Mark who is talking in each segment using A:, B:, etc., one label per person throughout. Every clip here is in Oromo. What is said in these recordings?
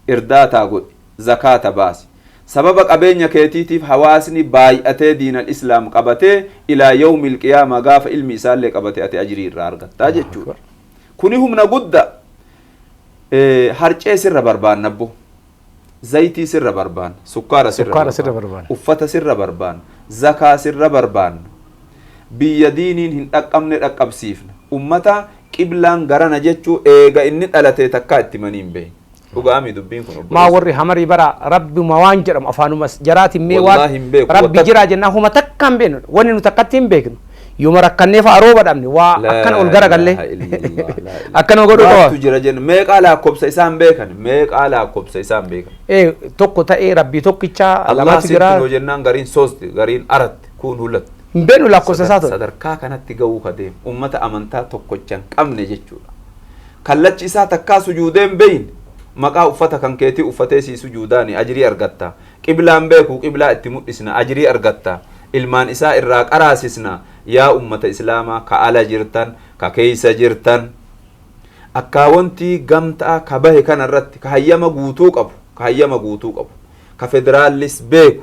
A: irdaataa godhi, zakaata baasi. Sababa qabeenya keetiitiif hawaasni baay'atee diin al-islaam qabatee ilaa yawmil qiyaamaa gaafa ilmi isaallee qabate ati ajrii irraa argatta Allahu jechuudha. akbar. Kuni humna gudda. Eh, Harcee sirra barbaanna abbo. Zayitii sirra barbaanna. Sukkaara sirra Sukkaara sirra barbaanna. barbaanna. Uffata sirra barbaanna. Zakaa sirra barbaanna. Biyya diiniin hin dhaqqabne dhaqqabsiifna. Ummata qiblaan garana jechuu eega inni dhalatee takkaa itti himanii hin beeyne. Dhuga'amii dubbiin kun Maa obboleessa? warri hamarii bara
B: rabbuma waan jedhamu afaanuma jaraatiin mee waan Wallaahi hin beeku. rabbi Watak- jiraa jennaan homa takka hin beeknu wanni nuti akkatti hin beeknu yooma rakkannee fa'a rooba dhabne waa Laa akkana ol garagallee ilaaha illallah, laa ilaaha. akkana godhu qaba. Maaltu jira jenna meeqaa
A: laakkobsa isaan beekan meeqaa laakkobsa isaan beekan Ee, tokko ta'ee rabbii
B: tokkicha Allah lamatu jira. sittinoo
A: jennaan gariin sosti gariin aratti Kun hula Hin beeknu lakkoofsa isaa
B: ture. sadarkaa kanatti ga'uu
A: ka deemu ummata amantaa tokkocha hin qabne jechuudha. Kallachi isaa takkaa sujuudee hin beeyne maqaa uffata kan keetii uffatee sii sujuudaani ajrii argatta. Qiblaa hin beeku qiblaa itti mudhisna ajrii argatta. Ilmaan isaa irraa qaraasisna. Yaa ummata Islaamaa ka ala jirtan, ka keeysa jirtan akkaawontii gamtaa ka bahe kana irratti ka hayyama guutuu qabu, ka hayyama guutuu qabu, ka federaallis beeku,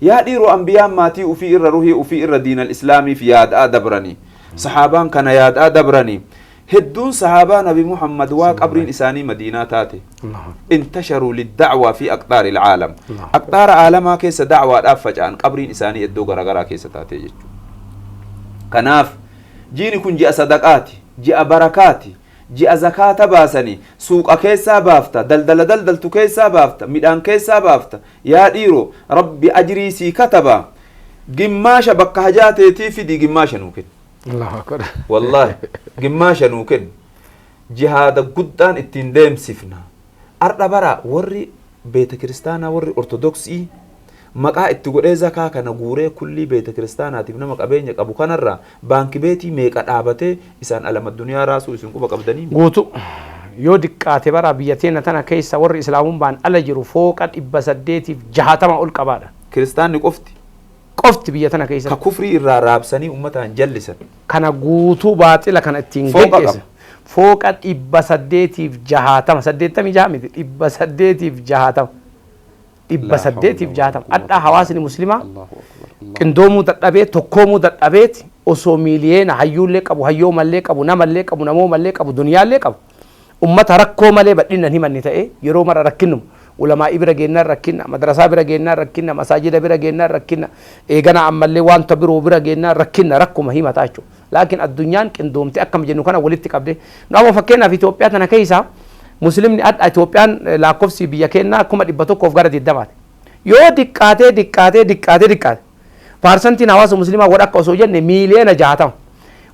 A: Yaa dhiiro anbiyaan maatii ufii irra ruhii ufii irra diinal islaamiif yaada'aa dabrani. Sahaabaan kana yaada'aa dabrani. Hedduun sahaabaa nabi Muhammad waa qabriin isaanii madiinaa taate. Intasharuu lidda'waa fii aqxaaril aalam. Aqxaara aalamaa keessa da'waadhaaf faca'an qabriin isaanii eddoo garagaraa keessa taate jechuudha. Kanaaf jiini kun ji'a sadaqaati. Ji'a barakaati. ji'a zakaata baasani suuqa keessaa baafta daldala daldaltu keessaa baafta midhaan keessaa baafta yaa dhiiro rabbi ajrii sii kataba gimmaasha bakka hajaa teetii fidii gimmaasha nuu kenni Allahu akbar. wallaahi gimmaasha nuu kenni jihaada guddaan ittiin deemsifna Ardha bara worri beetakiristaanaa worri ortodoksii maqaa itti godhee zakaa kana guuree kullii beetakiristaanaatiif nama qabeenya qabu kanarraa baankibeetii meeqa dhaabatee isaan alamadduniyaa raasuu isin quba qabdanii? Guutu.
B: Yoo diqqaate bara biyya teenna tana keessa worri islaamumbaan ala jiru fooqa 860 ol qabaadha. Kiristaanni qofti
A: qofti biyya tana keessatti. Ka kufrii irraa raabsanii ummataan jallisan. Kana guutuu
B: baaxila kana ittiin geggeessan. Fooqa qaba. Fooqa 860, 86 miti 860. 860. Hadhaa hawaasni muslimaa qindoomuu dadhabee tokkoomuu dadhabeeti osoo miiliyeena hayyuullee qabu hayyoomallee qabu namallee qabu namoomallee qabu duniyaallee qabu Ummata rakkoo malee badhinnan himanne ta'e yeroo mara rakkinnuma. Ulamaa'ii bira geennaan rakkinna, madrasaa bira geennaan rakkinna, masaajida bira geennaan rakkinna, eeganaa ammallee wanta biroo bira geennaan rakkinna, rakkuma himataa jechuudha. Laakiin addunyaan qindoomtee akkam jennu kana walitti qabdee. Nu amma fakkeenyaaf Itoophiyaa tana keessaa Muslimni adha Itoophiyaan laakkofsi biyya keennaa 100,000 fi gara 20ti. Yoo diqqaatee diqqaatee diqqaatee diqqaate. Paarsantiin hawaasa muslimaa godha akka osoo jenne miiliyoona jaatama.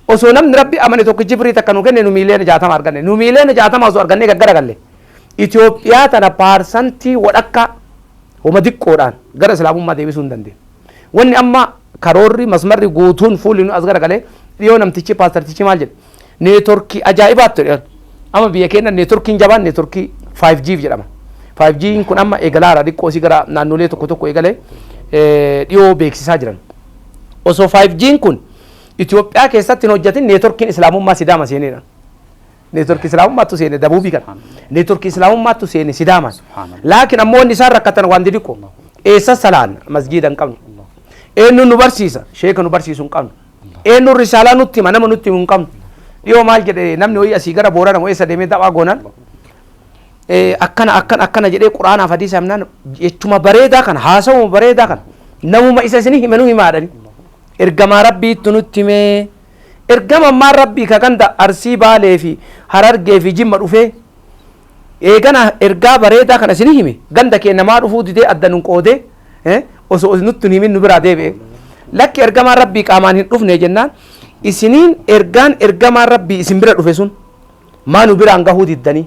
B: Osoo namni rabbi amane tokko jibrii takka nu kenne nu miiliyoona jaatama arganne. Nu miiliyoona jaatama osoo argannee gaggara galle. Itoophiyaa tana paarsantii wadhakka homa diqqoodhaan gara islaamummaa deebisuu hin dandeenye. Wanni amma karoorri masmarri guutuun fuulli nu as gara galee dhiyoo namtichi paastartichi maal jedhe. neetworkii ajaa'ibaatti jedhan. Amma biyya keenya neetworkiin jabaan neetworkii 5G jedhama. 5G kun amma eegalaara xiqqoo si gara naannolee tokko tokko eegalee dhiyoo beeksisaa jiran. Osoo 5G kun Itoophiyaa keessatti hin hojjetin neetworkiin Islaamummaa Sidaama seeneedha. Neetworkii Islaamummaattu seene dabuubii kana. Neetworkii Islaamummaattu seene Sidaama. Laakiin ammoo wanni isaan rakkatan waan didiqqoo. Eessa salaan masjiida hin qabnu. Eenyuun nu barsiisa sheeka nu barsiisu hin qabnu. Eenyuun risaalaa nutti hima nama nutti himu hin qabnu. Dhiyoo maal jedhe namni ho'i asii gara boorana moo eessa deemee da'waa goonan akkana akkana akkana jedhee quraanaaf hadiisa himnaan jechuma bareedaa kana haasawuma bareedaa kana namuma isa isin hime nu himaadhani. Ergamaa rabbiitti nutti himee ergama ammaa rabbii ka ganda arsii baalee fi harargee fi jimma dhufee Eegana ergaa bareedaa kana isinii hime ganda kee namaa dhufuu didee adda nun qoodee eh, osoo isin nutti hin himin nu biraa deebi'e. Lakki ergamaan rabbii qaamaan hin dhufne jennaan isiniin ergaan ergamaan rabbii isin bira dhufe sun maa nu biraan gahuu diddanii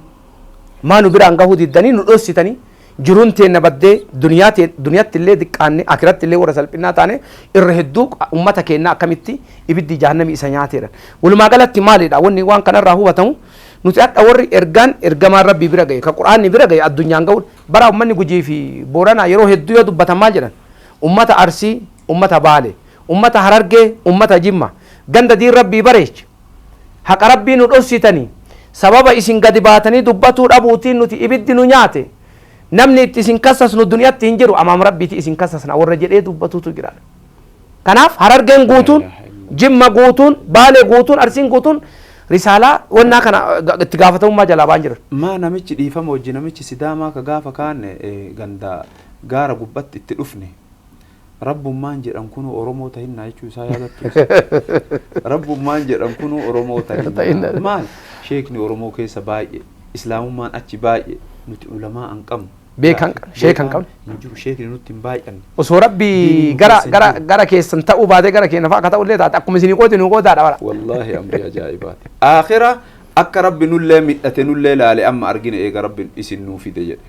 B: maa nu biraan gahuu diddanii nu dhossitanii Jiruun teenna baddee, duniyaa tee, duniyatti illee diqqaanne, aakiratti illee warra salphinnaa taane, irra hedduu ummata keennaa akkamitti ibiddi jahannamii isa nyaatee dha. Walumaa galatti maali dha wanni waan kana irraa hubatamu? Nuti hadha warri ergaan ergamaan Rabbii bira gaye, ka Qur'aanni bira gaye addunyaan gawuun, bara ummanni Gujii fi Booranaa yeroo hedduu yoo dubbatan maal jedhan? Ummata Arsii, ummata Baale, ummata Harargee, ummata Jimma, ganda diin Rabbii bareeche, Haqa Rabbii nu dhossitanii, sababa isin gadi baatanii dubbatuu dhabuutiin nuti ibiddi nu nyaate, namni itti isin kassasnu duniyatti hin jiru, amaam Rabbiitii isin kassasna warra jedhee dubbatuutu jira. Kanaaf Harargeen guutuun, Jimma guutuun, Baalee guutuun, Arsiin guutuun risaalaa wannaa kana itti gaafatamummaa jalaa ba'an jiran. Maa namichi dhiifama
A: wajji namichi Sidaamaa ka gaafa kaane ganda gaara gubbatti itti dhufne, Rabbummaan jedhan kunuu Oromoo tahinnaa jechuu isaa yaadattu. Rabbummaan jedhan kunuu Oromoo tahinnaa. Maal? Sheekni Oromoo keessa baay'ee, Islaamummaan achi baay'ee, nuti ulamaa an qabnu. Beekaan qabnu, sheeka
B: hin qabnu. Hin jiru, sheekni nutti hin
A: baay'anne. Osoo Rabbi
B: gara gara gara keessan ta'uu baatee gara keenya fa'a akka ta'u illee taate akkuma isinii qooti nuu qootaadha bara. Wallaahi amrii
A: ajaa'ibaati. Aakhira akka Rabbi nullee midhate nullee laale amma argine eega Rabbi isin nuu fide jedhe.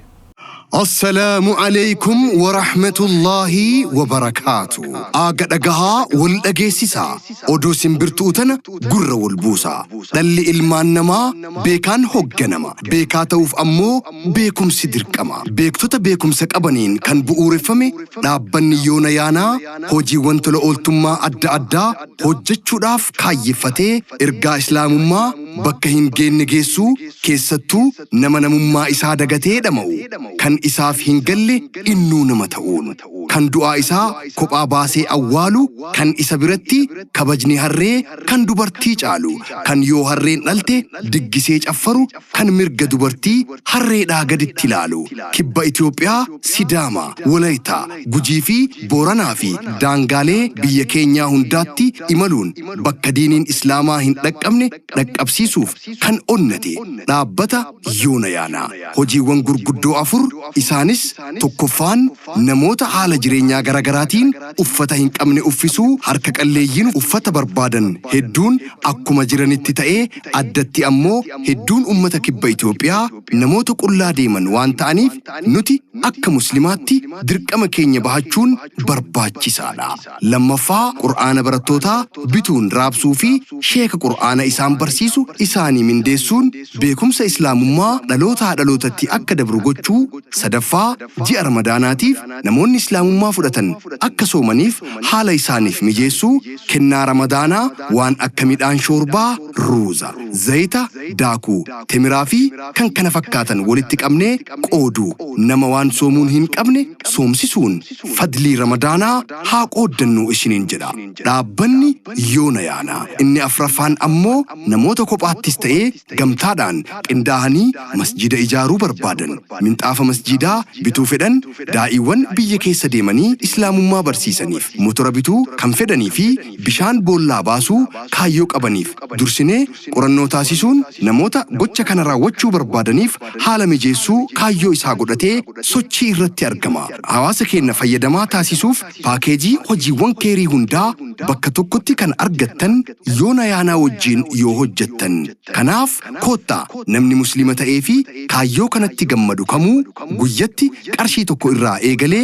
A: Assalaamu
C: Aleykum Warahmatullaahi Wabarakaatu. Aaga dhagahaa wal dhageessisaa. Oduu simbirtu'u tana gurra wal buusaa. Dhalli ilmaan namaa beekaan hogganama. Beekaa ta'uuf ammoo beekumsi dirqama. Beektota beekumsa qabaniin kan bu'uureffame dhaabbanni yoona yaanaa hojiiwwan tola ooltummaa adda addaa hojjechuudhaaf kaayyeffatee ergaa Islaamummaa bakka hin geenne geessuu keessattuu nama namummaa isaa dagatee dhama'u, kan isaaf hin galle innuu nama ta'uun, kan du'aa isaa kophaa baasee awwaalu, kan isa biratti kabajni harree kan dubartii caalu, kan yoo harreen dhalte diggisee caffaru, kan mirga dubartii harreedhaa gaditti ilaalu, kibba Itoophiyaa, Sidaama, Wolayita, Gujii fi Booranaa fi daangaalee biyya keenyaa hundaatti imaluun bakka diiniin Islaamaa hin dhaqqabne dhaqqabsiisuuf kan onnate dhaabbata Yoona Yaana hojiiwwan gurguddoo afur isaanis, tokkoffaan namoota haala jireenyaa garagaraatiin uffata hin qabne uffisuu harka qalleeyyiin uffata barbaadan hedduun akkuma jiranitti ta'ee addatti ammoo hedduun ummata kibba Itoophiyaa namoota qullaa deeman waan ta'aniif nuti akka muslimaatti dirqama keenya bahachuun barbaachisaadha. Lammaffaa, Qur'aana barattootaa bituun raabsuu fi sheeka Qur'aana isaan barsiisu isaanii mindeessuun beekumsa Islaamummaa dhalootaa dhalootatti akka dabru gochuu. Sadaffaa, Ji'a Ramadaanaatiif namoonni Islaamummaa fudhatan akka soomaniif haala isaaniif mijeessuu. Kennaa Ramadaanaa waan akka midhaan shoorbaa, ruuza, zayita, daakuu, temiraa fi kkf walitti qabnee qooduu. Nama waan soomuun hin qabne soomsisuun fadlii ramadaanaa haa qooddannuu isiniin jedha dhaabbanni yoona yaana inni afraffaan ammoo namoota kophaattis ta'ee gamtaadhaan qindaahanii masjiida ijaaruu barbaadan minxaafa masjiidaa bituu fedhan daa'iiwwan biyya keessa deemanii islaamummaa barsiisaniif motora bituu kan fedhanii fi bishaan boollaa baasuu kaayyoo qabaniif dursinee Qorannoo taasisuun namoota gocha kana raawwachuu barbaadaniif haala mijeessuu kaayyoo isaa godhatee sochii irratti argama. Hawaasa keenya fayyadamaa taasisuuf paakeejii hojiiwwan keerii hundaa bakka tokkotti kan argattan yoo Nayaanaa wajjiin yoo hojjettan. Kanaaf koottaa namni musliima ta'ee fi kaayyoo kanatti gammadu kamuu guyyatti qarshii tokko irraa eegalee